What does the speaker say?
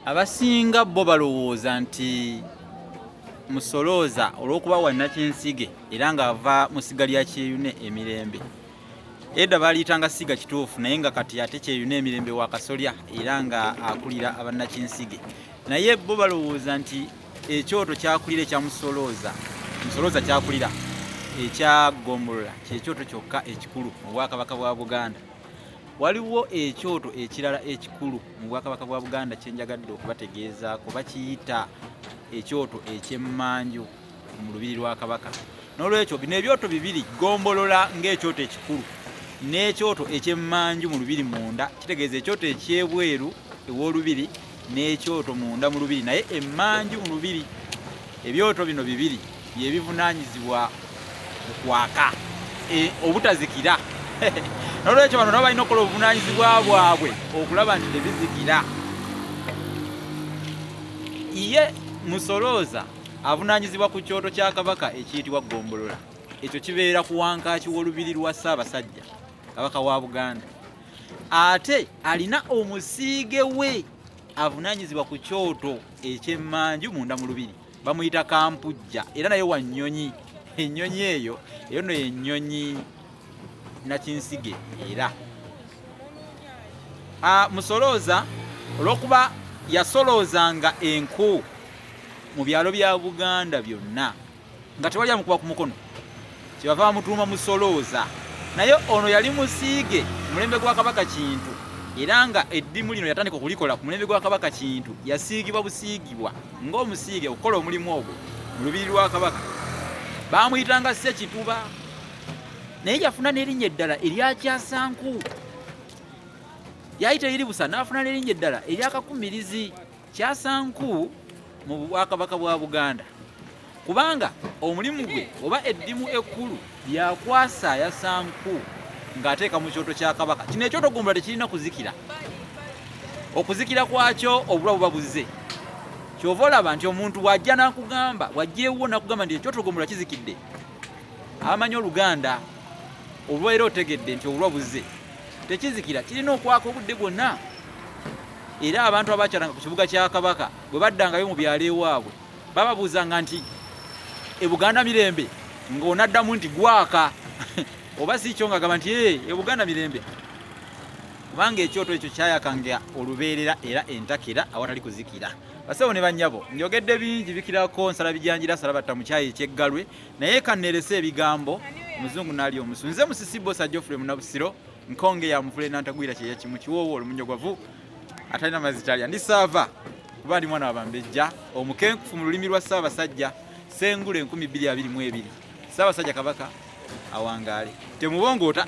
Abasinga bo balowooza nti Musolooza olw'okuba wa Nakinsige era ng'ava mu ssiga lya Kyeyune emirembe edda baaliyitanga ssiga kituufu naye nga kati ate Kyeyune emirembe wa Kasolya era nga akulira abannakinsige naye bo balowooza nti ekyoto kyakulira ekya Musolooza Musolooza kyakulira ekya Gombolola kyekyoto kyokka ekikulu mu Bwakabaka bwa Buganda. Waliwo ekyoto ekirala ekikulu. mu bwakabaka bwa buganda kyenjagadde okubategeezaako bakiyita ekyoto ekyemmanju mu lubiri lwa kabaka n'olwekyo bino ebyoto bibiri gombolola ng'ekyoto ekikulu n'ekyoto ekyemmanju mu lubiri munda kitegeeza ekyoto ekyebweru ew'olubiri n'ekyoto munda mu lubiri naye emmanju mu lubiri ebyoto bino bibiri yebivunaanyizibwa mu kwaka e, obutazikira nolwekyo bano nabo balina okukola obuvunaanyizibwa bwabwe okulaba nti tebizikira ye musolooza avunaanyizibwa ku kyoto kya kabaka ekiyitibwa ggombolola ekyo kibeera ku wankaaki w'olubiri lwa ssaabasajja kabaka wa buganda ate alina omusiige we avunaanyizibwa ku kyoto eky'emmanju munda mu lubiri bamuyita kampujja era naye wa nnyonyi ennyonyi eyo eyo no yennyonyi nakinsige era ah, musolooza olwokuba yasoloozanga enku mu byalo bya buganda byonna nga tewali amukuba ku mukono Kyebava bamutuuma Musolooza. Naye ono yali musiige ku mulembe gwa Kabaka Kintu era nga eddimu lino yatandika okulikola ku mulembe gwa Kabaka Kintu. Yasiigibwa busiigibwa ng'omusiige okukola omulimu ogwo mu lubiri lwa Kabaka. Baamuyitanga Ssekituba naye yafuna n'erinnya eddala erya Kyasanku. Yayita eri busa n'afuna n'erinnya eddala erya Kakumirizi. kyasanku mu bwakabaka bwa buganda kubanga omulimu gwe oba eddimu ekkulu lyakwasa yasanku ng'ateeka mu kyoto kya kabaka kino ekyoto gumbula tekirina kuzikira okuzikira kwakyo obulwa buba buzze kyova olaba nti omuntu wajja nakugamba wajjewo nakugamba nti ekyoto gumbula kizikidde abamanyi oluganda olwaera otegedde nti obulwa buzze tekizikira kirina okwaka obudde bwonna Era abantu abaakyalanga ku kibuga kya Kabaka bwe baddangayo mu byalo ewaabwe bababuuzanga nti e Buganda mirembe ng'onaddamu nti gwaka oba si kyo ng'agamba nti ee e Buganda mirembe kubanga ekyoto ekyo kyayakanga olubeerera era entakera awatali kuzikira basebo ne bannyabo njogedde bingi bikirako nsala bijanjira sala batta mu kyayi ekyeggalwe naye kannerese ebigambo omuzungu naali omusu nze musisibbo sa geoffrey munabusiro nkonge ya mvule nantagwira kyeya kimu kiwoowo olumunyo gwavu atalina mazzi talya ndi saava kuba ndi mwana wabambejja omukenkufu mu lulimi lwa ssaabasajja sengule enkumi bbiri abiri mu ebiri ssaabasajja kabaka awangaale temubongoota